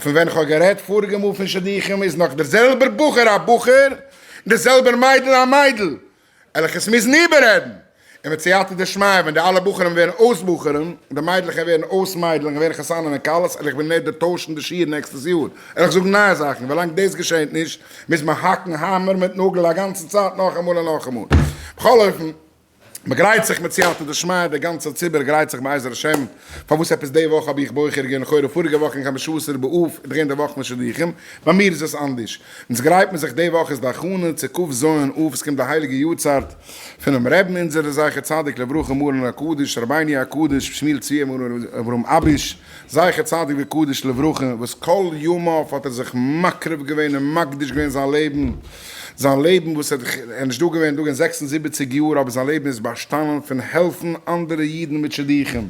פון ווען כ'האב גערעדט פאריגע מאל פון שידוכים איז נאך דער זעלבער בחור א בחור און דער זעלבער מיידל א מיידל וועלכעס מוזן איבעררעדן, און מיט סייעתא דשמיא ווען די אלע בחורים ווערן אויס בחורים און די מיידלעך ווערן אויס מיידלעך און ווערן חתנים און כלות וועל איך בין נדר טוישן די שיעור נעקסטעס יאר וועל איך זאגן נייע זאכן ווילאנג דאס געשעהט נישט מוז מען האקן האמער מיט נאגל א גאנצע צייט נאכאמאל און נאכאמאל בכל אופן מען גרייט זיך מיט סייעתא דשמיא, דער גאנצער ציבור גרייט זיך בעזר השם, פארוואס עפעס די וואך האב איך בוחר געווען לכאורה פאריגע וואך אין חמשה עשר באב איז דאך געווען די וואך פון שידוכים, ביי מיר איז עס אנדערש, אונז גרייט מען זיך די וואך איז די הכנה צו ק ז אב, עס קומט די הייליגע יארצייט פונעם רעבן אונזער דער זכר צדיק לברכה מרן הקדוש רבינו הקדוש שמואל צבי אברהם אביש, זכר צדיק וקדוש לברכה, וואס כל ימיו האט ער זיך מקריב געווען און מקדיש געווען זיין לעבן, זיין לעבן וואס ער איז נישטא געווען דאגען זעקס און זיבעציק יאר, אבער זיין לעבן איז באשטאנען פון העלפן אנדערע אידן מיט שידוכים,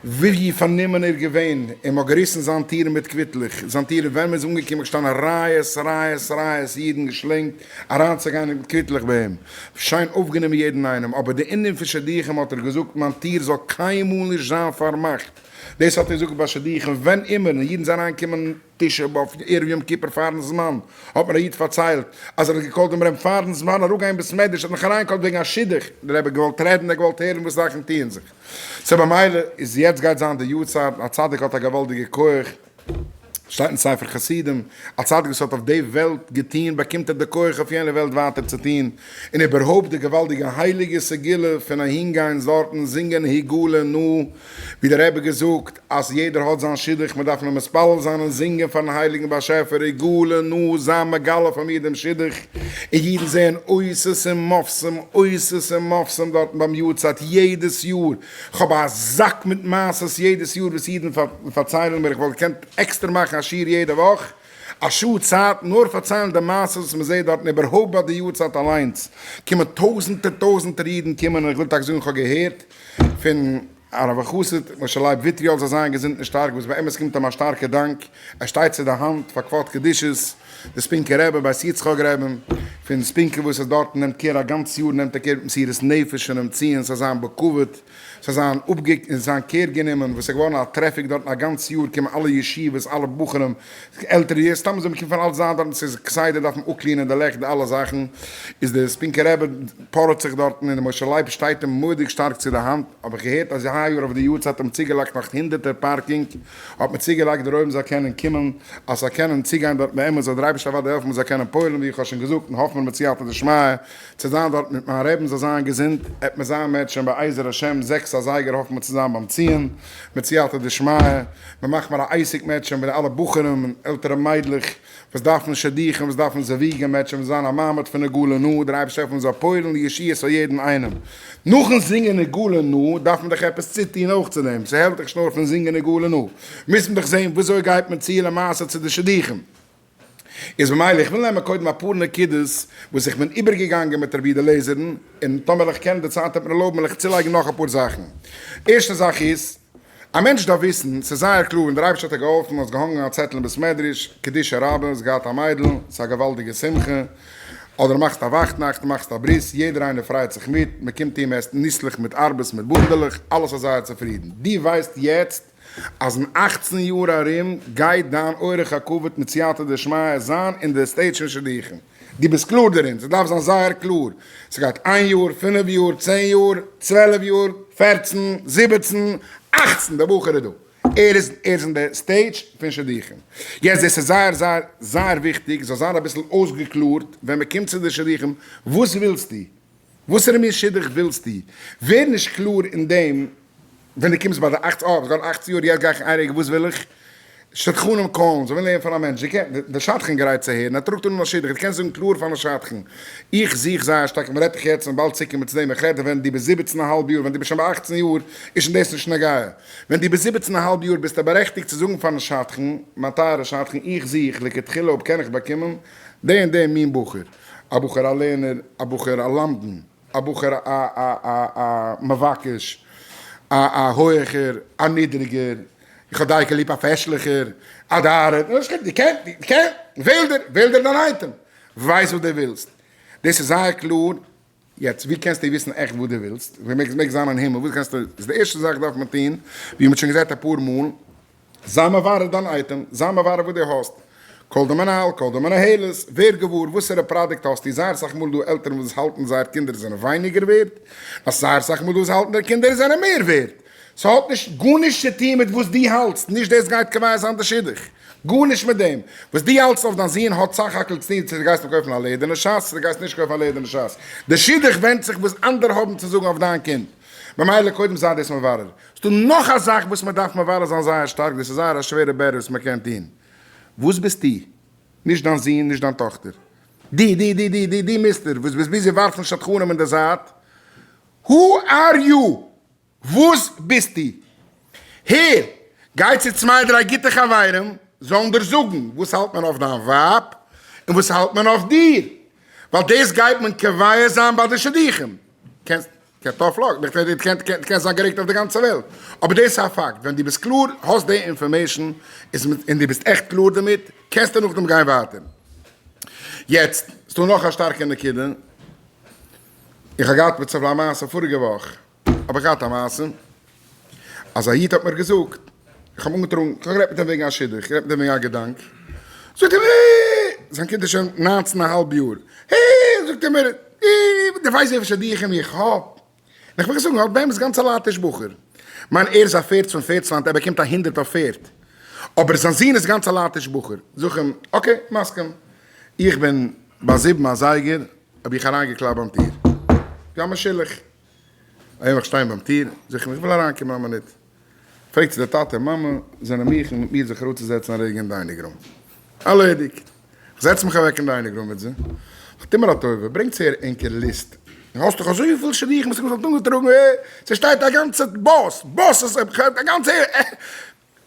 ווי פארנומען ער איז געווען און מ'האט געריסן זיין טירן מיט קוויטלעך, זיין טירן ווען מ'איז אנגעקומען געשטאנען רייעס רייעס רייעס אידן געשלענגט אריינצוגיין מיט קוויטלעך ביי אים, שיין אויפגענומען יעדן איינעם, אבער די ענין פון שידוכים האט ער געזאגט מיין טיר זאל קיינמאל נישט זיין פארמאכט, דאס האט אונז אפגעפאסט שידוכים ווען אימער און אידן זענען אריינגעקומען תשעה באב ערב יום כיפור פארן זמן האט מיר א איד פארציילט אז ער האט געקאלט דעם רמב ם פארן זמן אראפגיין בית מדרש ער האט מיך אריינגעקאלט וועגן א שידוך דער רבי האט געוואלט רעדן ער האט געוואלט הערן וואס זאכן טוען זיך סא במילא איז יעצט גייט זיין די יארצייט א צדיק האט א געוואלדיגע כח שטייט אין ספר חסידים, א צדיק וואס האט אויף די וועלט געטוהן באקומט ער די כח אויף יענע וועלט ווייטער צו טוהן, און איבערהויפט די געוואלדיגע הייליגע סגולה פון אהין גיין זארטן זינגען היגעלה נא, ווי דער רבי געזאגט אז יעדער האט זיין שידוך מען דארף נאר מתפלל זיין און זינגען פארן הייליגן באשעפער היגעלה נא זיי מגלה פאר מיר דעם שידוך, און אידן זעען אותות און מופתים, אותות און מופתים דארטן ביים יארצייט יעדעס יאר, כ'האב א זאק מיט מעשות יעדעס יאר וואס אידן פארציילן מיר, כ'וואלט געקענט עקסטער מאכן א שיעור יעדע וואך, א שעה צייט, נאר פארציילן די מעשות וואס מען זעט דארטן, איבערהויפט ביי די יארצייט אליינס קומען טויזענטער טויזענטער אידן קומען, און כ'וויל טאקע זאגן כ'האב געהערט פון הרב החסיד משה לייב וויטריאל זאל זיין געזונט און שטארק, וואס באמת קומט אים א שטארקע דאנק, ער שטייט צו די האנט פאר כבוד קדושת. די ספינקע רבי בית יצחק רבי פון ספינקע וואס איז דארטן נעמט קער א גאנץ יאר נעמט ער קער מיט מסירות נפש פון אים ציען ס'זאל זיין בכבוד ס'זאל זיין אפגעק און זיין קער גענומען וואס איז געווארן א טרעפיק דארטן א גאנץ יאר קומען אלע ישיבות אלע בחורים עלטערע יער סתם זיי קומען פון אלץ זיין דארטן ס'איז כסדר דארף מען אפקלינען די לעכט די אלע זאכן איז די ספינקע רבי פארעט זיך דארטן און די משה לייב שטייט אים מורא'דיג שטארק צו די האנט האב איך געהערט אז היי יאר אויף די יארצייט האבן צוגעלייגט נאך הונדערטער פארקינג האט מען צוגעלייגט דער אויבן זאל קענען קומען אז ס'זאל קענען צוגיין דארט נערמאל זאל דער אייבערשטער אוודאי העלפן מ'זאל קענען פועל'ן ווי איך האב שוין געזאגט און האף מיר מיט סייעתא דשמיא צו זיין דארט מיט מיין רעבין זאל זיין געזונט עט מען זיין מ'עט שוין בעזר השם זעקס אזייגער האף מיר צו זיין ביים ציון מיט סייעתא דשמיא מ'מאך מיר א עסק מ'עט שוין בין אלע בחורים און עלטערע מיידלעך וואס דארפן שידוכים, וואס דארפן זווג און מעטשען, וואס זיין א מעמד פון נגאלע נא, דער אייבערשטער העלף אונז זאל פועל'ן לישועת פאר יעדן איינעם. נאכן זינגען נגאלע נא דארף מען דאך עפעס צוטוהן אויך צו דעם, ס'העלפט דאך נישט נאר פון זינגען נגאלע נא, מוז מען דאך זעהן וויאזוי גייט מען צו למעשה צו די שידוכים. איז במילא איך וויל נעמען קודם אפאר נקודות וואס איך בין איבערגעגאנגען מיט רבי אליעזר'ן, און טאמער איך קען די צייט וועט מיר ערלויבן וועל איך צולייגן נאך אפאר זאכן. ערשטע זאך איז. א מענטש דארף וויסן, ס'איז זייער קלאר, און דער אייבערשטער האט דיר געהאלפן, האסט געהאנגען א צעטל אין בית מדרש, קדישא רבה, האסט געהאט א מיידל, ס'איז א געוואלדיגע שמחה, אדער מאכסט א וואכטנאכט, מאכסט א ברית, יעדער איינער פרייט זיך מיט, מען קומט אהן, מען עסט ניסלעך מיט ארבעס, מיט בונדעלעך, אלעס איז זייער צופרידן. דו ווייסט יעצט אז אין אכצן יאר ארום גייט דיין אורח הכבוד מיט סייעתא דשמיא זיין אין די סטעיט שוין שידוכים. דו ביסט קלאר דערין? ס'דארף זיין זייער קלאר. ס'גייט איין יאר, פינף יאר, צען יאר, צוועלף יאר, פערצן, זיבעצן, אכצן, דער בחור איז דא. ער איז אין די סטעידזש פון שידוכים. יעצט דאס איז זייער זייער זייער וויכטיג ס'זאל זיין אביסל אויסגעקלארט ווען מ'קומט צו די שידוכים, וואס ווילסטו? וואסערע מין שידוך ווילסטו? ווער נישט קלאר אין דעם ווען דו קומסט ביי די אכצן, אה איך וועל אכצן יאר, יעצט גיי איך אין איין רגע, וואס וויל איך? שדכנים קאלן, זיי ווילן הערן פון א מענטש, די שדכן גרייט צו הערן, ער טראגט אן א שידוך, דו קענסט זאגן קלאר פארן שדכן, איך זוך זייער שטארק, מ'רעדט דיך יעצט און באלד צוקומען צו דעם, איך רעד ווען דו ביסט זיבעצן א האלב יאר, ווען דו ביסט שוין ביי אכצן יאר איז שוין דאס נישט נוגע, ווען דו ביסט זיבעצן א האלב יאר ביסטו בארעכטיגט צו זאגן פארן שדכן, מיין טייערע שדכן איך זוך לכתחילה אויב קען איך באקומען די און די מין בחור. א בחור א לערנער, א בחור א למדן, א בחור א א א א א מבקש, א א הויעכער, א נידריגער, איך האב דייקא ליב א פעשליכער, א ד א ר, נו שכח, דו קען, דו קען, וועל דיר, וועל דיר דיין אייטעם, ווייס וואס דו ווילסט, דאס איז זייער קלאר, יעצט ווי קענסטו וויסן עכט וואס דו ווילסט? ווי מעגסט מעגסט זיין אין הימל וואס קענסטו איז די ערשטע זאך דארף מען טון ווי מ'האט שוין געזעט אפאר מאל זיי מברר דיין אייטעם זיי מברר וואס דו האסט קאל די מנהל קאל די מנהלת ווער געוואר וואסערע פראדוקט האסטו זייער סאך מאל דא עלטערן וואס האלטן זייער קינדער זענען ווייניגער ווערד נאך זייער סאך מאל דא וואס האלטן די קינדער זענען מער ווערד ס'האט נישט גארנישט צו טון מיט וואס דו האלטסט נישט דאס גייט קובע זיין די שידוך. גארנישט מיט דעם וואס דו האלטסט אויף דיין זוהן האט סך הכל צוטוהן צו דו גייסט אים קויפן א לעדערנע שס צו דו גייסט נישט קויפן א לעדערנע שס. די שידוך ווענדט זיך וואס אנדערע האבן צו זאגן אויף דיין קינד. ממילא קודם זיי דאס מברר. ס'דא נאך א זאך וואס מ'דארף מברר זיין זייער שטארק, דאס איז זייער א שווערע בערעל וואס מ'קען טוהן. וואס ביסטו? נישט דיין זוהן, נישט דיין טאכטער. דו, דו, דו, דו, דו, דו מיסטער וואס ביסט ביזי ווארפן שדכנים אין די זייט. הו אר יו? וואס ביסטו? הער, גיי צו צוויי דריי גוטע חברים, זאלן דיר זאגן וואס האלט מען אויף דיין ווייב און וואס האלט מען אויף דיר, ווייל דאס גייט מען קובע זיין ביי די שידוכים. קענסט קענסט אויפלאגן, איך מיין דו קענסט זיין גערעגט אויף די גאנצע וועלט, אבער דאס איז א פאקט, ווען דו ביסט קלאר, האסט די אינפארמעישן, און דו ביסט עכט קלאר דערמיט, קענסטו נאכדעם גיין ווייטער. יעצט, ס'דא נאך א שטארקע נקודה, איך האב געהאט מיט סבלאן מעשה פאריגע וואך, האב איך געהאט א מעשה אז א איד האט מיר געזאגט, איך האב אנגעטראגן, איך האב גערעדט מיט אים וועגן א שידוך, איך האב גערעדט מיט אים וועגן א געדאנק, זאגט ער מיר, אה, זיין קינד איז שוין ניינצן א האלב יאר, אה, זאגט ער מיר, אה, דו ווייסט וועפער שידוכים איך האב? און איך בין געזאגן, האט באמת גאנץ א לייטיש בחור, מיין ער איז א פערד פון פערדסלאנד, ער באקומט א הונדערט אויף פערד, אבער זיין זון איז גאנץ א לייטיש בחור, זאג איך אים, אקעי, מסכים, איך בין ביי זיבן אזייגער האב איך אריינגעקלאפט ביים טיר, זיי האבן מיר שילח. אייוועלט שטיין ביים טיר, זיך אים איך וויל אריינקומען א מינוט. פרעגט זי די טאטע און מאמע זענען מיך און מיט מיר זיך אראפצוזעצן א רגע אין דיינינג רום. ארלעדיגט! איך זעץ מיך אוועק אין דיינינג רום מיט זי. נו טו מיר א טובה, ברענגטס אהער ענקער ליסט. נו האסט דאך אזויפיל שידוכים וואס איך זאל אנטראגן, אה! ס'שטייט א גאנצע באס, באסעס, א גאנצע.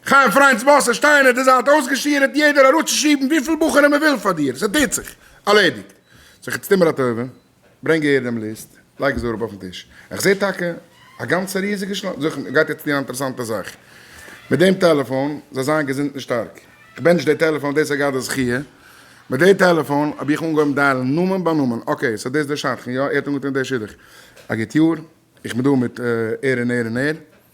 חיים פריינד'ס באס עס שטייען אויף די זייט אויסגעשירעט יעדער אראפצושיבן וויפיל בחורים מען וויל פאר דיר סע טוט זיך. ארלעדיגט זיך איצט טו מיר א טובה ברענג אהער דעם ליסט לייג עס אראפ אויפן טיש איך זע טאקע א גאנצע ריזיגע של זיך מען גייט יעצט טון א אינטערעסאנטע זאך מיט דעם טעלעפאן זיי זיין געזונט און שטארק איך בענטש די טעלעפאן דאס איז גאט די זכיה מיט די טעלעפאן האב איך אנגעהויבן דיילן נאמען ביי נאמען אקעי סא דאס איז דער שדכן יא ער האט אנגעטון די שידוך א גוט יאר איך בין דא מיט ער און ער און ער.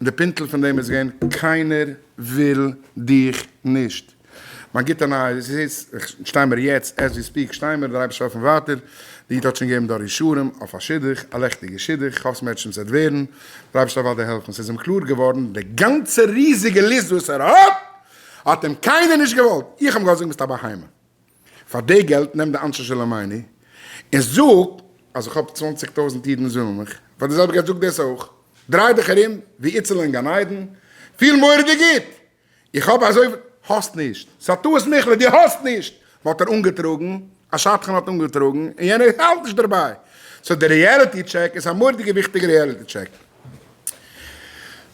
און די פינטל פון דעם איז געווען קיינער וויל דיך נישט. מיין גוטע נייעס איז, שטיי מיר יעצט, עז ווי ספיעק שטיי מיר, דער אייבערשטער העלפט מיר ווייטער, די איד האט שוין געגעבן דא אישורים אויף א שידוך, א לעכטיגע שידוך, כ'האף ס'מעטשענט ס'עט ווערן, דער אייבערשטער זאל ווייטער העלפן, ס'איז אים קלאר געווארן די גאנצע ריזיגע ליסט וואס ער האט, האט אים קיינער נישט געוואלט, איך האב אים געזאגט ביסט א בהמה, פאר די געלט נעם די אנשי שלומינו און זאג אז איך האב צוואנציג טויזנט אידן זאלן מיך פאר די זעלבע געלט זאג דאס אויך דריי דיך ארום ווי איצל אין גן עדן פיל מורא'דיג גוט איך האב אזויפיל האסט נישט ס'א טעות מיכל'ע דו האסט נישט וואו האט ער אנגעטראגן א שדכן האט אנגעטראגן און יענער האלט נישט דערביי סאו די ריעליטי טשעק איז א מורא'דיגע וויכטיגע ריעליטי טשעק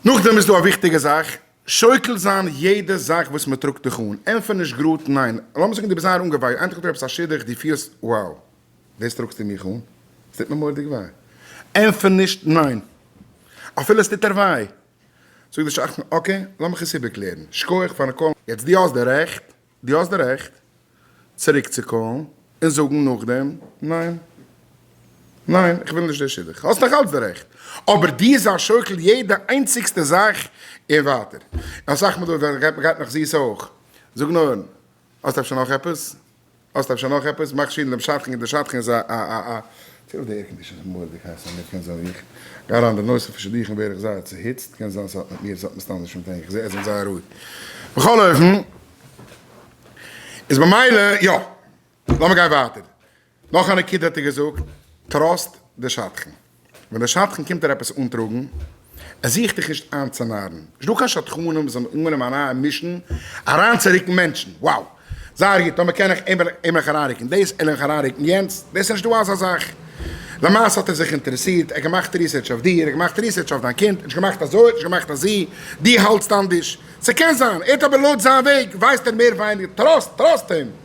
נאכדעם איז דא א וויכטיגע זאך. שוקל זיין יעדע זאך וואס מען טראגט דיך אן, ענטפער נישט גראד ניין, לאמיר זאגן דו ביסט זייער אנגעוויי, איינטאג האט דיר עפעס א שידוך, דו פילסט wow דאס טראגסטו מיך אן? עס טוט מיר מורא'דיג וויי, ענטפער נישט ניין אפילו עס טוט דיר וויי, זאג די שדכן אקעי לאמיך עס איבערקלערן, שכוח פארן קאלן, יעצט דו האסט די רעכט דו האסט די רעכט צוריקצוקאלן און זאגן נאכדעם ניין. ניין, איך וויל נישט די שידוך. האסט נאך אלץ די רעכט. אבער דו זיי שוקל יעדע איינציגסטע זאך און ווייטער. און אסאך מאל דארט ווערט גע'גט נאך זיס אויך. זאג נאר, האסט אפשר נאך עפעס? האסט אפשר נאך עפעס? מאך שידוך דעם שדכן, דער שדכן איז א צוליב די עירקאנדישאן איז מורא'דיג הייס אין מיר, קען זיין ווי איך גיי אריין די נושא פון שידוכים ווער איך זייער צוהיצט, קען זיין ס'האט מיט מיר ס'האט מסתם נישט מיט ענק, איך זע עס זעהט זייער רוהיג, בכל אופן איז במילא יא, לאמיר גיין ווייטער, נאך א נקודה האט ער געזאגט טראסט די שדכן, ווען די שדכן קומט דיר עפעס אנטראגן. ער זוכט דיך נישט איינצונארן, נישט דא קיין שדכנים וואס האבן אנגענומען א נייע מישן אריינצורוקן מענטשן, wow זייער גוט, טאמער קען איך אים עלעך אריינרוקן דאס, עלעך אריינרוקן יענץ, דאס איז נישט דא אזא זאך, למעשה האט ער זיך אינטערעסירט, ער האט געמאכט ריסערטש אויף דיר, ער האט געמאכט ריסערטש אויף דיין קינד, ער האט נישט געמאכט אזוי, ער האט נישט געמאכט אזי, דו האלטסט אנדערש, ס'קען זיין, ער האט אבער לויט זיין וועג ווייסט ער מער ווייניגער, טראסט, טראסט אים.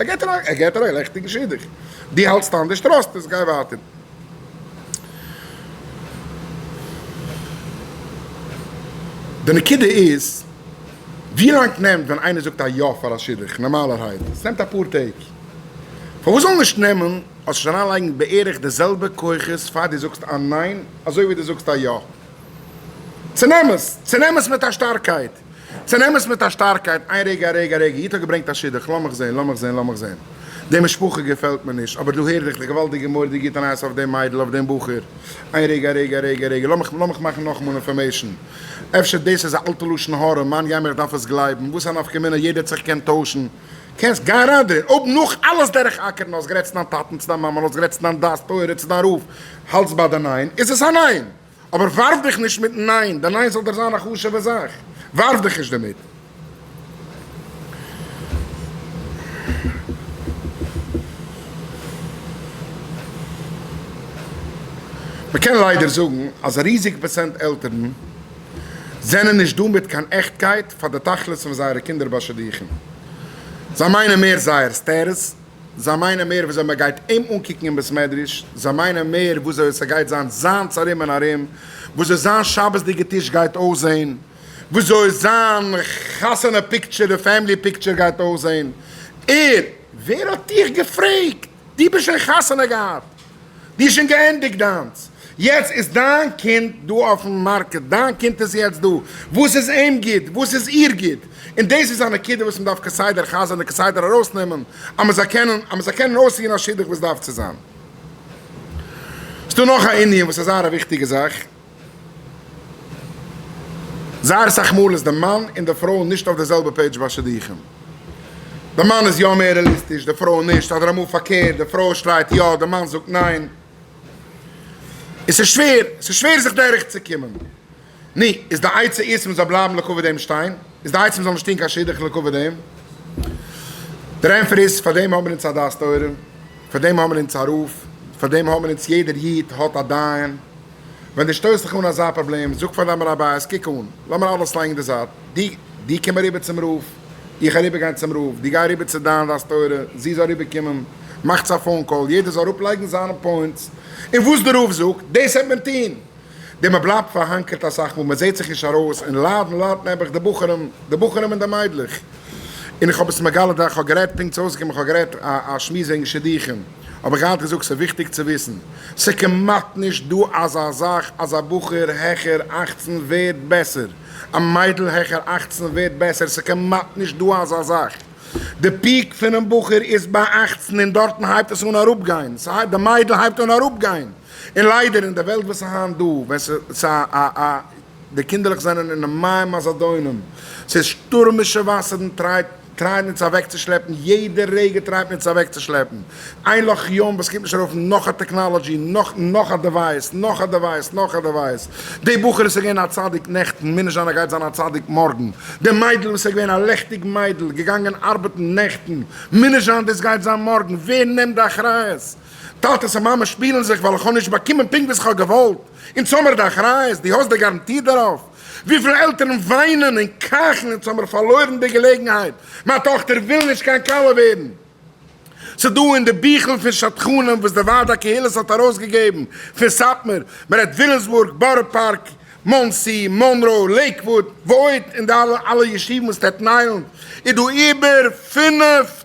ער געט איר ער געט איר א לעכטיגן שידוך, דו האלטסט אנדערש, טראסט עס, גיי ווייטער. די נקודה איז, ווי לאנג נעמט ווען איינער זאגט א יא פאר א שידוך? נארמאלערהייט עס נעמט אפאר טעג. פארוואס זאל נישט נעמען, האסט שוין אריינלייגן בערך די זעלבע כוחות פאר דו זאגסט א ניין אזוי ווי דו זאגסט א יא? צונעם עס, צונעם עס מיט א שטארקייט. צונעמען עס מיט א שטארקייט, איין רגע א רגע א רגע, איד האט געברענגט א שידוך, לאמיך זעהן לאמיך זעהן לאמיך זעהן, די משפחה געפעלט מיר נישט, אבער דא הער איך די געוואלדיגע מורא'דיגע גוטע נייעס אויף דעם מיידל אויף דעם בחור, איין רגע א רגע א רגע א רגע, לאמיך לאמיך מאכן נאכאמאל אינפארמעישן, אפשר דאס איז א אלטע לשון הרע, מאן יים איך דארף עס גלייבן, וואס א נפקא מינה, יעדער האט זיך געקענט טוישן, קענסט גיין אריין דערין, אויב נאך אלעס דורך אקערן האסט גערעדט צו דיין טאטן צו דיין מאמען האסט גערעדט צו דיין דעת תורה צו דיין רב, האלטסט ביי די ניין, איז עס א ניין! אבער ווארף דיך נישט מיטן ניין, די ניין זאל דיר זיין א חשוב'ע זאך, ווארף דיך נישט דערמיט. מ'קען ליידער זאגן אז א ריזיגע פראצענט עלטערן זענען נישט דא מיט קיין עכטקייט פאר די תכלית פון זייערע קינדער ביי שידוכים, זיי מיינען מער זייערס טערעס, זיי מיינען מער וויאזוי מען גייט אים אנקוקן אין בית מדרש, זיי מיינען מער וויאזוי עס גייט זיין זיינס ארום און ארום, וויאזוי זיין שבת'דיגע טיש גייט אויסזען, וויאזוי זיין חתונה פיקטשער און פעמילי פיקטשער גייט אויסזען, ער, ווער האט דיך געפרעגט? דו ביסט שוין חתונה געהאט! די שוין געענדיגט דיינס, יעצט איז דיין קינד דא אויפן מארקעט, דיין קינד איז יעצט דא, וואס איז אים גוט, וואס איז איר גוט, און דאס איז א נקודה וואס מען דארף כסדר חזר'ן און כסדר ארויסנעמען אז מען זאל קענען אז מען זאל קענען אויסציען א שידוך ווי עס דארף צו זיין. ס'דא נאך א ענין וואס אזא וויכטיגע זאך. זייער סאך מאל איז די מאן און די פרוי נישט אויף די זעלבע פעידזש ביי שידוכים. די מאן איז יא מער רעליסטיש די פרוי נישט, אדער אמאל פארקערט די פרוי שרייט יא די מאן זאגט ניין. און ס'איז שווער, ס'איז שווער זיך דורך צו קומען. נו, איז די עצה איז מען זאל בלייבן לכה פ דעם שטיין? איז די עצה מען זאל נישט טון קיין שידוך לכה פ דעם? דער ענפער איז, פאר דעם האט מען אונז א דעת תורה. פאר דעם האמער אונז א רב, פאר דעם האמער אונז יעדער איד האט א דיין, ווען דו שטויסט דיך אן אזא פראבלעם, זאג פאר דיין רבי'ס, קוק אן, לאמיר אלעס לייגן אין די זייט, דו דו קום אריבער צום רב, איך אריבער גיין צום רב, דו גיי אריבער צו דיין דעת תורה, זי זאל אריבער קומען, מאכטס א פאון קאל, יעדער זאל אראפ לייגן זיינע פוינטס, און וואס די רב זאגט, דאס העט מען טון. די מען בלייבט פארהאנקערט אסאך מאל מען זעהט זיך נישט ארויס און ליידן ליידט נעבעך די בחורים די בחורים און די מיידלעך און איך האב עס מגלה דאך כ'האב גערעדט פונקט ס'איז אויסגעקומען כ'האב גערעדט א א שמועס וועגן שידוכים האב איך געהאט געזאגט ס'איז וויכטיג צו וויסן ס'כמעט נישט דא אזא זאך אז א בחור העכער אַכצן ווערט בעסער א מיידל העכער אַכצן ווערט בעסער ס'כמעט נישט דא אזא זאך די פיעק פונעם בחור איז ביי אַכצן און דארטן הייבט עס אן אראפגיין ס'הייבט די מיידל הייבט אן אראפגיין. און ליידער אין די וועלט וואס איז היינט דא, ווען ס'איז א א א די קינדערלעך זענען אינעם מים הזדונים, ס'איז שטורמישע וואסערן טרייט טרייען אונז אוועקצושלעפן, יעדע רגע טרייט מען אונז אוועקצושלעפן, איין לאך ים וואס קומט נישט ארויף נאך א טעקנאלעדזשי, נאך נאך א דעווייס, נאך א דעווייס, נאך א דעווייס, די בחור וואס איז געווען א צדיק נעכטן, מוז נישט זיין ער גייט זיין א צדיק מארגן, די מיידל וואס איז געווען א לעכטיג מיידל, געגאנגען ארבעטן נעכטן, מוז נישט זיין דאס גייט זיין מארגן, ווער נעמט די אחריות? טאטעס און מאמעס שפילן זיך ווייל איך האב נישט באקומען פונקט וואס איך האב געוואלט, אונז האמיר די אחריות, דו האסט די גאראנטי דערויף? וויפיל עלטערן וויינען און קייכן אונז האמיר פארלוירן די געלעגנהייט, מיין טאכטער וויל נישט קיין כלה ווערן. ס'איז דא אין די ביכל פון שדכנים וואס די ועד הקהילות האט ארויסגעגעבן, פון סאטמאר, מ'רעדט ווילימסבורג, בארא פארק, מאנסי, מאנרא, לעיקוואוד, ועוד, אין די אלע ישובים און סטעטן איילענד איז דא איבער פֿינף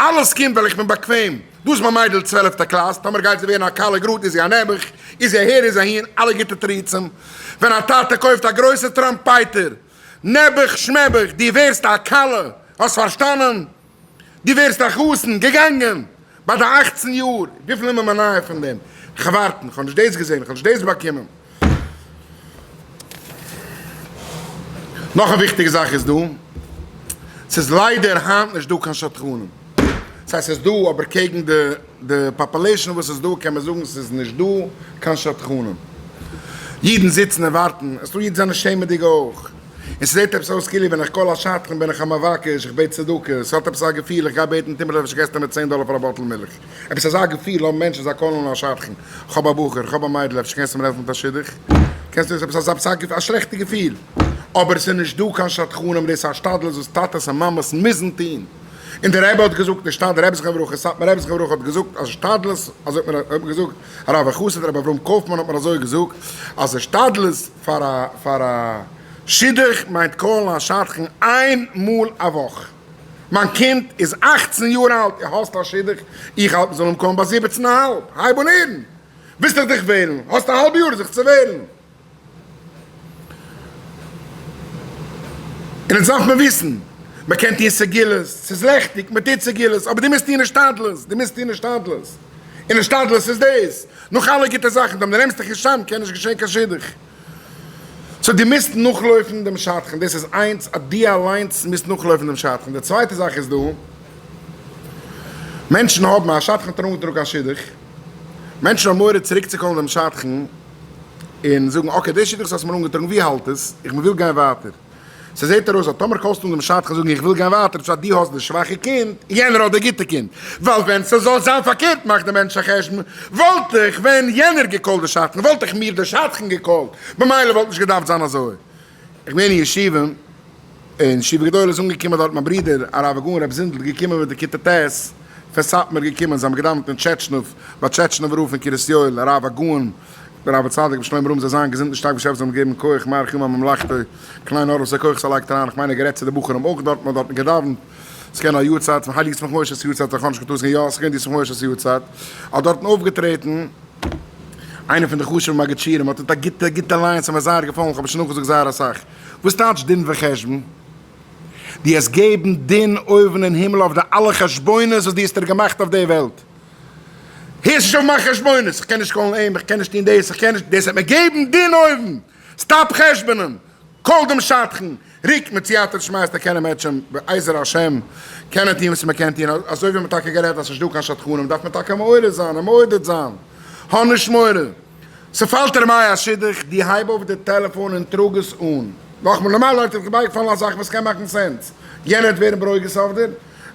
אלעס קומט ווייל איך בין באקוועם. דא איז מיין מיידל צוועלעפטע קלאס, טאמער גייט זי ווערן א כלה גראד איז זי א נעבעך, איז זי אהער איז זי אהין, אלע גוטע תירוצים. ווען א טאטע קויפט א גרויסע טראמפייטער, נעבעך שמעבעך, דו ווערסט א כלה, האסט פארשטאנען? דו ווערסט א חתן, געגאנגען! ביי די אכצן יאר, וויפיל אימער מ'נאר פון דעם, איך ווארטן, כ'האב נישט דאס געזען, כ'האב נישט דאס באקומען. נאך א וויכטיגע זאך איז דא, ס'איז ליידער היינט נישט דא קיין שדכנים. ס'הייסט ס'איז דא, אבער קעגן די פאפולעישאן וואס איז דא, קען מען זאגן ס'איז נישט דא קיין שדכנים. אידן זיצן און ווארטן, עס איז דא אידן זענען שעמעדיג אויך. און ס'זעט עפעס אויס כאילו ווען איך קאל א שדכן בין איך א מבקש, איך בעט צדקה, ס'האט עפעס א געפיל איך גיי בעטן טומל אפשר געסטו מיר צען דאלער פאר א באטל מילך, עפעס אזא געפיל האבן מענטשן זיי קאלן אן א שדכן, איך האב א בחור, איך האב א מיידל אפשר קענסטו מיר העלפן מיט א שידוך, קענסטו מיר עפעס עפעס א שלעכטע געפיל, אבער ס'איז נישט דא קיין שדכנים דאס איז א השתדלות וואס טאטעס און מאמעס מוזן טון, און דער רבי האט געזאגט נישט א דער רבי זכרונו לברכה, סאטמאר רבי זכרונו לברכה האט געזאגט אז השתדלות, אזוי האט מיר געזאגט הרב החסיד רבי אברהם קויפמאן האט מיר אזוי געזאגט אז השתדלות, פאר א שידוך מיינט קאלן א שדכן איין מאל א וואך. מיין קינד איז אכצן יאר אלט, ער האסט א שידוך, איך האלט מען זאל אים קאלן ביי זיבעצן א האלב, הייב אן הערן, ווילסט דאך דיך וועלן, האסט א האלב יאר זיך צו וועלן, און אונז דארף מען וויסן, מען קען טון סגולות, ס'איז לעכטיג, מען טוט סגולות, אבער דו מוזט טון השתדלות, דו מוזט טון השתדלות. און השתדלות איז דאס. נאך אלע גוטע זאכן, דעם נערעמסטעכן שם קען נישט געשען קיין שידוך. סאו דו מוזט נאכלויפן דעם שדכן. דאס איז איינס אז דו אליינס מוזט נאכלויפן דעם שדכן. די צווייטע זאך איז דא מענטשן האבן, א שדכן האט ארומגעטראגן קיין שידוך, מענטשן האבן מורא צוריקצוקאלן דעם שדכן און זאגן אקעי, דער שידוך וואס האסט מיר אנגעטראגן, ווי האלט עס? איך מוויל גיין ווייטער. ס'זעט ארויס אז טאמער קאלסטו אן דעם שדכן זאגן איך וויל גיין ווייטער צו אז דו האסט די שוואכע קינד און יענער האט די גוטע קינד, ווייל ווען ס'זאל זיין פארקערט מאכט דער מענטש א חשבון, וואלט איך ווען יענער געקאלט די שדכן וואלט איך מיר די שדכן געקאלט, במילא וואלט נישט געדארפט זיין אזוי. איך בין אין ישיבה, אין ישיבה גדולה איז אנגעקומען דארט מיין ברודער הרב הגאון ר' זונדל געקומען מיט די כיתה ט' פון סאטמאר געקומען, זיי האבן געדאווענט אין טשעטשנוב ביי טשעטשנובער רב פון קרית יואל הרב הגאון דער רבי צדיק רבי שלום אברהם זאל זיין געזונט און שטארק בשפע זאל אים געבן כח מאריך ימיו ממלכתו קליין אור וואס א כח עס לייגט אריין איך מיין ער האט גערעדט צו די בחורים אויך דארט מען האט דארטן געדאווענט ס'איז געווען א יארצייט פון הייליג יצמח משה'ס יארצייט איך האב נישט געטוישט יא ס'איז געווען די יצמח משה'ס יארצייט האט דארטן אויפגעטרעטן איינער פון די חשוב'ע מגדשירים האט האט א גוטע גוטע ליין ס'האט מיר זייער געפאלן איך האב עס שוין נאכגעזאגט זייער אסאך וואס טייטש דין וחשבון? דו העסט געבן דין אויבן אין הימל אויף די אלע חשבונות וואס דו האסט דיר געמאכט אויף די וועלט. הערסט נישט אויף מיין חשבונות, איך קען נישט קאלן אים, איך קען נישט טון דאס, איך קען נישט, דאס וועט מיר געבן דין אויבן, סטאפ חשבונען, קאל דעם שדכן, ריק מיט סייעתא דשמייתא קען ער מעטשען, בעזר השם קען מען טון וואס מען קען טון, אזוי ווי מען האט טאקע גערעדט אז ס'נישט דא קיין שדכנים דארף מען טאקע מעורר זיין און מעודד זיין, האב נישט מורא, ס'פאלט ערמיי א שידוך, דו הייב אויף די טעלעפאן און טראג עס אן, נאכמער נארמאל לויט איז בייגעפאלן א זאך וואס קען מאכן סענס, יענער וועט ווערן ברוגז אויף דיר,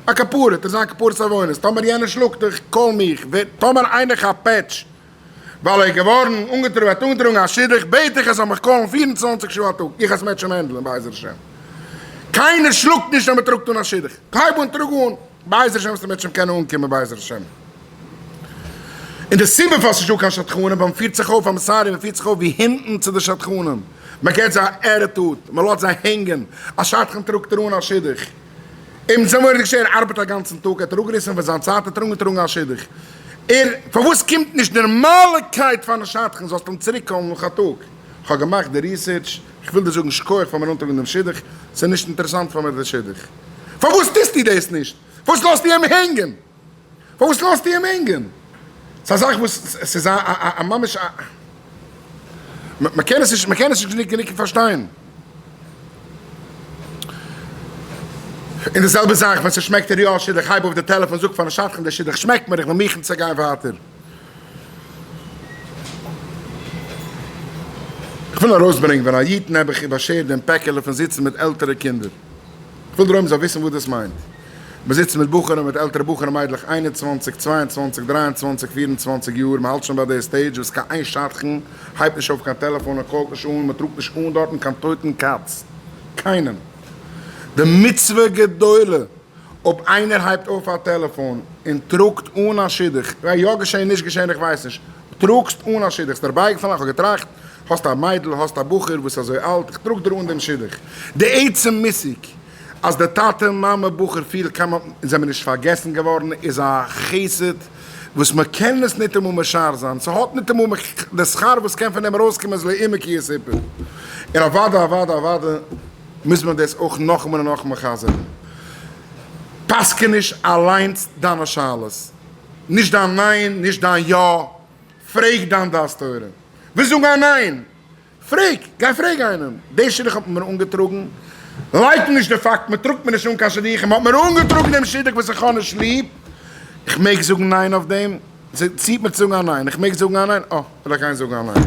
א כפרה טו זיין כפרת עוונות, טאמער יענער שלאגט דיך קאל מיך, ווער, טאמער איינער כאפט פעטש ווייל ער איז געווארן אנגעטראגן, ער האט אנגעטראגן א שידוך, בעט איך ער זאל מיך קאלן פֿיר און צוואַנציק שעה א טאג, איך עס מעטשן מענדלען בעזר השם, קיינער שלאגט נישט אז מען טראגט אן א שידוך, הייב אן טראג אן, בעזר השם וועסטו מעטשן קענען אנקומען בעזר השם, און די סיבה פארוואס ס'נישט דא קיין שדכנים ווייל מען פירט זיך אויף, איים סארי, מען פירט זיך אויף ווי הינטן צו די שדכנים, מען געט זיי א עטיטוד, מען לאזט זיי הענגען, א שדכן טראגט ער אן א שידוך. אים זעמיר נישט ער ארבעט אגאנצן טאג האט ער אפגעריסן פון זיין צייט האט ער אנגעטראגן א שידוך ער פארוואס קומט נישט נערמאלעקייט פאר א שדכן זאלסט אים צוריק קאלן נאך א טאג איך האב געמאכט די ריסערטש איך וויל דיר זאגן שכוח פאר מיר אנטראגן דעם שידוך ס'איז נישט אינטערעסאנט פאר מיר די שידוך פארוואס טוסטו דאס נישט פארוואס לאזטו אים הענגען. פארוואס לאזט איהם הענגען? ס'איז א זאך וואס ס'איז א א ממש א. מ'קען עס נישט מ'קען עס נישט גענוג פארשטיין. און די זעלבע זאך ווען ס'שמעקט דיר יא א שידוך הייב אויף די טעלעפאן זאג פארן שדכן די שידוך שמעקט מיר איך בין מוכן צו גיין ווייטער. כ'וויל ארויסברענגן ווען א איד נעבעך איבערשערט דעם פעקעלע פון זיצן מיט עלטערע קינדער. כ'וויל דערויבן זאל וויסן וואס דאס מיינט. מ'זיצט מיט בחורים, מיט עלטערע בחורים מיידלעך איין און צוואַנציק, צוויי און צוואַנציק, דריי און צוואַנציק, פיר און צוואַנציק יאר, מ'האלט שוין ביי די סטעידזש וואס קיין איין שדכן הייבט נישט אויף קיין טעלעפאן און קאלט נישט אן, מ'טראגט נישט אן דארטן קיין טויטן קאץ. קיינעם. די מצוה גדולה אויב איינער הייבט אויף א טעלעפאן און טראגט אן א שידוך, יא געשען נישט געשען איך ווייס נישט, טראָגסט אָן אַ שידוך. ס'דער בייגפֿאַל, איך האָב געטראַכט, האָסט אַ מיידל, האָסט אַ בחור, וואָס איז אַזוי אַלט, איך טראָג דיר אָן דעם שידוך. די עצם מושג, אַז די טאַטע, מאַמע, בחור, פֿיל כּמה און זענען נישט פֿאַרגעסן געוואָרן, איז אַ חסד, וואָס מע קען עס ניטאָמאָל משער זײַן. ס'האָט ניטאָמאָל מיט דער שׂכּר, וואָס קען פֿון דעם אַרויסקומען, איז לעומק איר סיפּור. און אַוודאי, אַוודאי, אַוודאי, מוז מען דאָס אויך נאָכאָמאָל און נאָכאָמאָל חזרן. פּסקעניש אַליינס דײַנע שאלות. נישט דיין ניין, נישט דיין יא, פרעג דיין דעת תורה. ווילסט זאגן א ניין? פרעג, גיי פרעג איינעם. די שידוך האט מען מיר אנגעטראגן, לייקן נישט די פאקט, מען טראגט מיר נישט אן קיין שידוכים, מען האט מיר אנגעטראגן דעם שידוך וואס איך האב נישט ליב, איך מעג זאגן ניין אויף דעם? זי ציט מיר צו זאגן א ניין, איך מעג זאגן א ניין? אה, וועל איך גיין זאגן א ניין.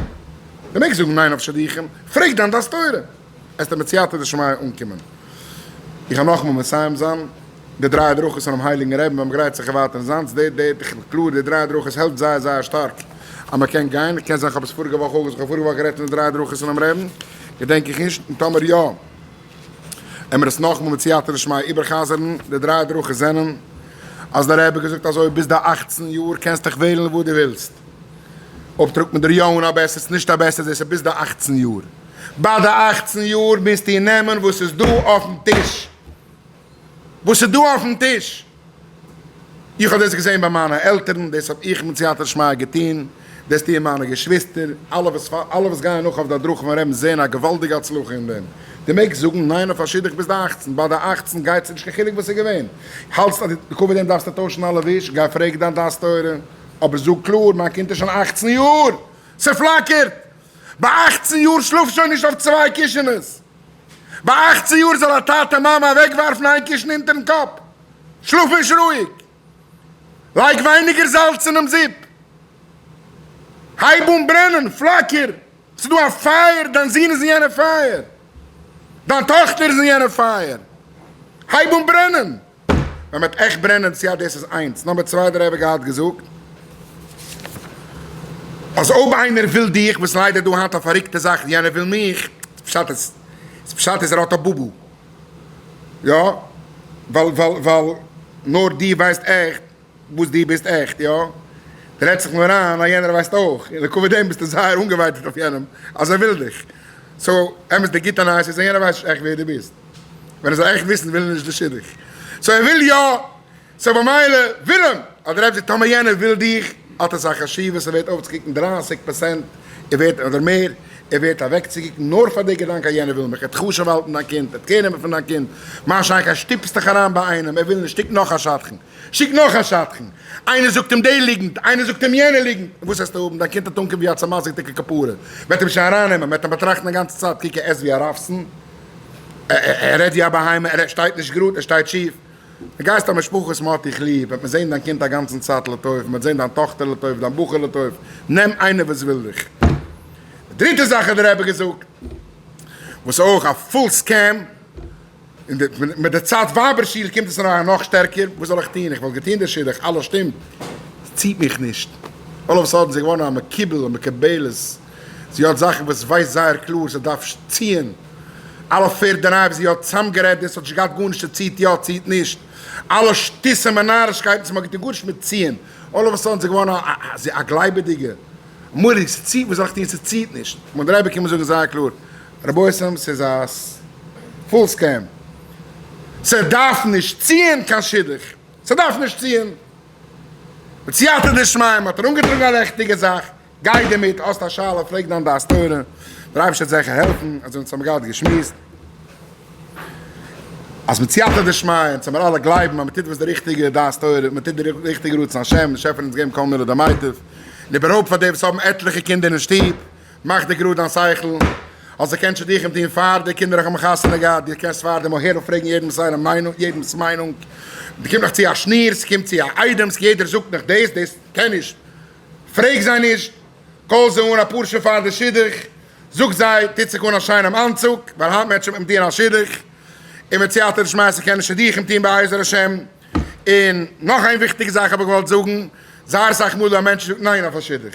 מען מעג זאגן ניין אויף שידוכים, פרעג דיין דעת תורה. עס טענה'ט סייעתא דשמיא אנקומען. איך האב נאכאמאל מסיים זיין די דריי הדרכות פונעם הייליגן רבי'ן ביים גרייט זיך ערווארטען זיינס דעיט דעיט איך בין קלאר די דריי הדרכות העלפט זייער זייער שטארק אז מען קען גיין קען זיין כ'האב עס פאריגע וואך אויך איך האב פאריגע וואך גערעדט פון די דריי הדרכות פונעם רבי'ן געדענק איך נישט און טאמער יא העמער דאס נאכאמאל מיט סייעתא דשמיא איבערחזר'ן די דריי הדרכות זענען אז די רבי האט געזאגט אזוי ביז די אכצן יאר קענסטעך וועלן וואס די ווילסט. אויב טראגט מען דיר יא אן א בעסער צו נישט א בעסער זעסט צו ביסט די אַכצן יאר. ביי די אַכצן יאר מוזטו נעמען וואס איז דא אויפן טיש. וואס איז דא אויפן טיש. איך האב דאס געזען ביי מיינע עלטערן, דאס האב איך מיט סייעתא דשמיא געטון, דאס טוען מיינע געשוויסטער, אלע וואס אלע וואס גייען נאך אויף די הדרכה פון רעבן זעען א געוואלדיגע הצלחה אין דעם. דו מעגסט זאגן ניין אויף א שידוך ביז די אַכצן, ביי די אַכצן גייט צו נישט קיין חילוק וואס איז געווען. האלטסט אז בעקבות דעם דארפסטו טוישן אלע וויש, גיי פרעג דיין דעת תורה. אבער זאג קלאר, מיין קינד איז שוין אכצן יאר! ס'פלאקערט! ביי אכצן יאר שלאף שוין נישט אויף צוויי קישענעס! ביי אכצן יאר זאל א טאטע מאמע אוועקווארפן איין קישן אונטערן קאפ! שלאף נישט רואיג! לייג ווייניגער זאלץ אינעם זופ! הייב אן ברענען! פלאקער! ס'דא א פייער! דיין זון איז אין יענע פייער! דיין טאכטער איז אין יענע פייער! הייב אן ברענען! מען וועט עכט ברענען צו אז דאס איז איינס. נומבער צוויי דער רבי געהאט געזאגט אז אויב איינער וויל דיך וואס ליידער דא היינט א פאריקטע זאך ווי יענער וויל מיך פשט איז פשט איז ער האט א בובו יא ווייל ווייל ווייל נאר די ווייסט עכט וואס דו ביסט עכט, יא? רעד זיך נאר איין אז יענער ווייסט אויך, און לעקאווע דעם ביסטו זייער אנגעווייטאגט אויף יענעם אז ער וויל דיך. סאו, אמת די גוטע נייעס איז אז יענער ווייסט נישט עכט ווער דו ביסט. ווען ער זאל עכט וויסן וויל ער נישט די שידוך. סאו ער וויל יא, סאו במילא וויל אים. אדער אפשר טאמער יענער וויל דיך, האט עס א חשיבות ער ווערט אויפצוקוקן דרײַסיק פארסענט, ער ווערט, אדער מער, ער ווערט אוועקצוקוקן נאר פאר די געדאנק אז יענער וויל מיך, ער האט חשוב האלטן דיין קינד, ער האט קער נעמען פון דיין קינד, מה שאין כן שטופסט דיך אריין ביי איינעם ער וויל נישט דיק נאך א שדכן. שיק נאך א שדכן, איינער זאגט אים די ליגנט, איינער זאגט אים יענע ליגנט, און וואס העסטו האבן, דיין קינד האט אנקום ווי א צעמאסגעדיגע כפרה, מען וועט אים שוין ארייננעמען, מען וועט אים באטראכטן א גאנצע צייט, קוק ער עסט ווי א רבסן, ער רעדט ווי א בהמה, ער שטייט נישט גראד, ער שטייט שיף, דו גייסט א משפחה וואס מען האט דיך ליב, וועט מען זען דיין קינד א גאנצן צייט לטוב, מען וועט זען דיין טאכטער לטוב, דיין בחור לטוב, נעם איינער וואס וויל דיך. די דריטע זאך האט דער רבי געזאגט, וואס איז אויך א פול סקעם, און מיט די צייט ווייבער שיך קומט עס אריין נאך שטערקער, וואס זאל איך טון, איך וואלט געטון די שידוך, אלעס שטימט, עס ציט מיך נישט, אלל אוו א סאדען איז זי געווארן א מקובל א מקובלת, זי האט זאכן וואס ווייסט זייער קלאר זי דארף ציען, אלע פערד דרייוו וואס זי האט צוזאמגערעדט דאס האט נישט געהאט גארנישט צו ציט יא ציט נישט, אלע שטותים און נארישקייטן וואס מען האט געטון גארנישט מיט ציען, אלל אוו א סאדען איז זי געווארן א גלייבעדיגע, אמאליג, עס ציט וואס זאל איך טון עס ציט נישט, מיין דרייווער קומען זאגן זייער קלאר, רבותם סאיז א פול סקעם, סדארף נישט ציען קיין שידוך, סדארף נישט ציען, בסיעתא דשמיא מהאט ער אנגעטראגן א לעכטיגע זאך, גיי דערמיט, האסט א שאלה פרעג דיין דעת תורה, דער אייבערשטער וועט זעכער העלפן, אזוי אונז האמיר געהאט געשמועסט אז בסיעתא דשמיא אונז האמיר אלע גלייבן אז מטוט וואס די ריכטיגע דעת תורה, מטוט די ריכטיגע רצון השם, דער שעפער האט אונז געגעבן כל מילות המוטיב, און איבערהויפט פאר די וואס האבן עטליכע קינדער אין שטוב. מאך דיר גראד דיין שכל אז דו קענסט שידוכים טון פאר די קינדער, האבן חתונה געהאט, דו קענסט פאר דעם אהער און פרעגן יעדעמס זייערע מיינונג, יעדעמס מיינונג, ס'קומט נאך צו א שניר, ס'קומט צו א איידעמס, יעדער זאגט נאך דאס, דאס קען נישט, פרעג זיי נישט, קאל זיי אן אפאר שעה פאר די שידוך, זאג זיי, טוט זיך אן א שיינעם אנצוג, ווייל היינט מענטשן וועלן טון א שידוך, און מיט סייעתא דשמיא קען מען שידוכים טון בעזר השם, און נאך איין וויכטיגע זאך האב איך געוואלט זאגן, זייער אסאך מאל ווען א מענטש זאגט ניין אויף א שידוך.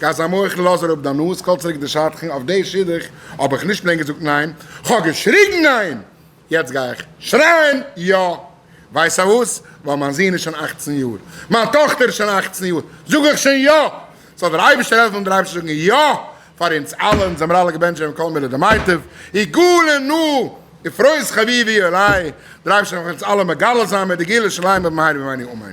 גייסט זיין מוחל לאז אראפ דיין נאז קאל צוריק די שדכן, אויף די שידוך האב איך נישט פלעין געזאגט ניין, כ'האב געשריגן ניין! יעצט גיי איך שרייען יא! ווייסע וואס? ווייל מיין זון איז שוין אכצן יאר, מיין טאכטער איז שוין אכצן יאר, זאג איך שוין יא! זאל דער אייבערשטער העלפן אונז דערהיים צו זאגן יא פאר אונז אלע, אונז זעמער אלע געבענטשט ווען כל מילה דמיטב, יגאלנו אפרות חביבי אלי', דער אייבערשטער זאל אונז אלע מגלה זיין מיט די גאולה שלמה במהרה בימינו אמן.